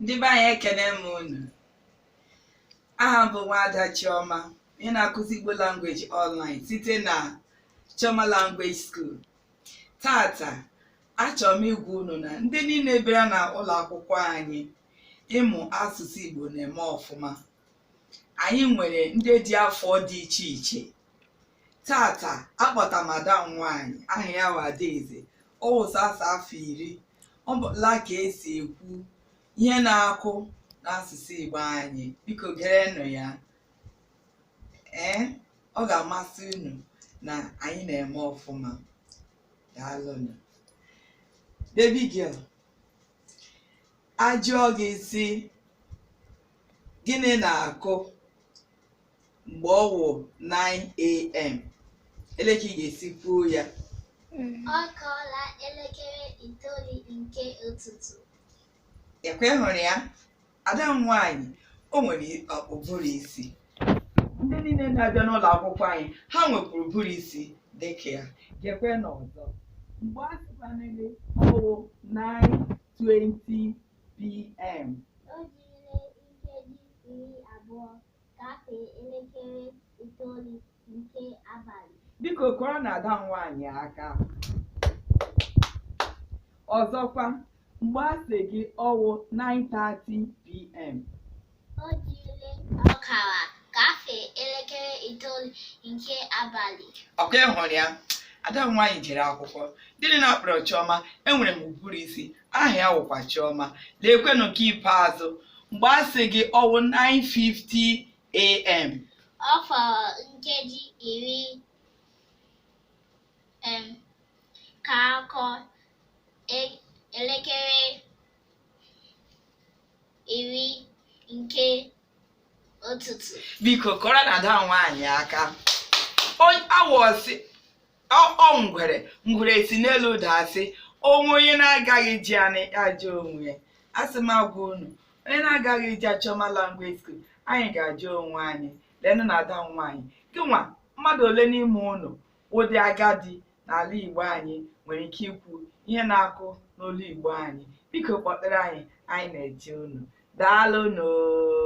ndị be anyị ekene m unu aha m bụ nwaada Chioma ị na-akụzi Igbo language online site na Chioma language school tata achọrọ m ịgwa unu na ndị niile bịara na ụlọ akwụkwọ anyị ịmụ asụsụ Igbo na-eme ọfụma anyị nwere ndị dị afọ dị iche iche tata akpọta m ada m nwanyị aha ya bụ Adaeze ọ wụ sọsọ afọ iri ọ mụọla ka e si ekwu ihe na-akụ n'asụsụ Igbo anyị biko gerenụ ya ee ọ ga-amasị unu na anyị na-eme ọfụma daalụnụ baby girl a jụọ gị sị Gịnị na-akụ mgbe ọ wụ 9am? Ele ka ị ga-esi kwuo ya. Ọ kụọla elekere itoolu nke ụtụtụ. Ọkwa ị hụrụ ya? Ada m nwaanyị, o nwere ụbụrụ isi. Ndị niile na-abịa n'ụlọ akwụkwọ anyị, ha nwekwuru ụbụrụ isi dị ka ya. Gekwenụ ọzọ. Mgbe a sịkwanụ gị ọ wụ 9:20 pm. O jirila nkeji iri abụọ gafee elekere itoolu nke abalị. Biko kụọrọnụ ada nwaanyị aka. Ọzọkwa, mgbe a sị gị ọ wụ 9:30 pm. O jirila ọkara gafee elekere itoolu nke abalị. Ọkwa ị hụrụ ya? Ada m nwaanyị jere akwụkwọ. Gịnị na-akpọrọ Chiọma? Enwere m ụbụrụ isi. Aha ya wụkwa Chiọma. Leekwenụ nke ikpeazụ. Mgbe a sị gị ọ wụ 9:50 a.m. Ọ fọrọ nkeji iri um ka a kụọ e- elekere iri nke ụtụtụ biko kụọrọnụ ada nwaanyị aka awọ si ọ ngwere ngwere si n'elu daa sị ọ wụ onye na-agaghị aja ya na ya ajaa onwe ya asị m gwa unu onye na-agaghị aja Chioma language school anyị ga-aja onwe anyị lenụ na ada nwaanyị gịnwa mmadụ ole n'ime unu ndị agadi n'ala Igbo anyị nwere ike ikwu ihe na-akụ n'olu Igbo anyị biko kpọtụrụ anyị anyị na-eche unu daalụnụ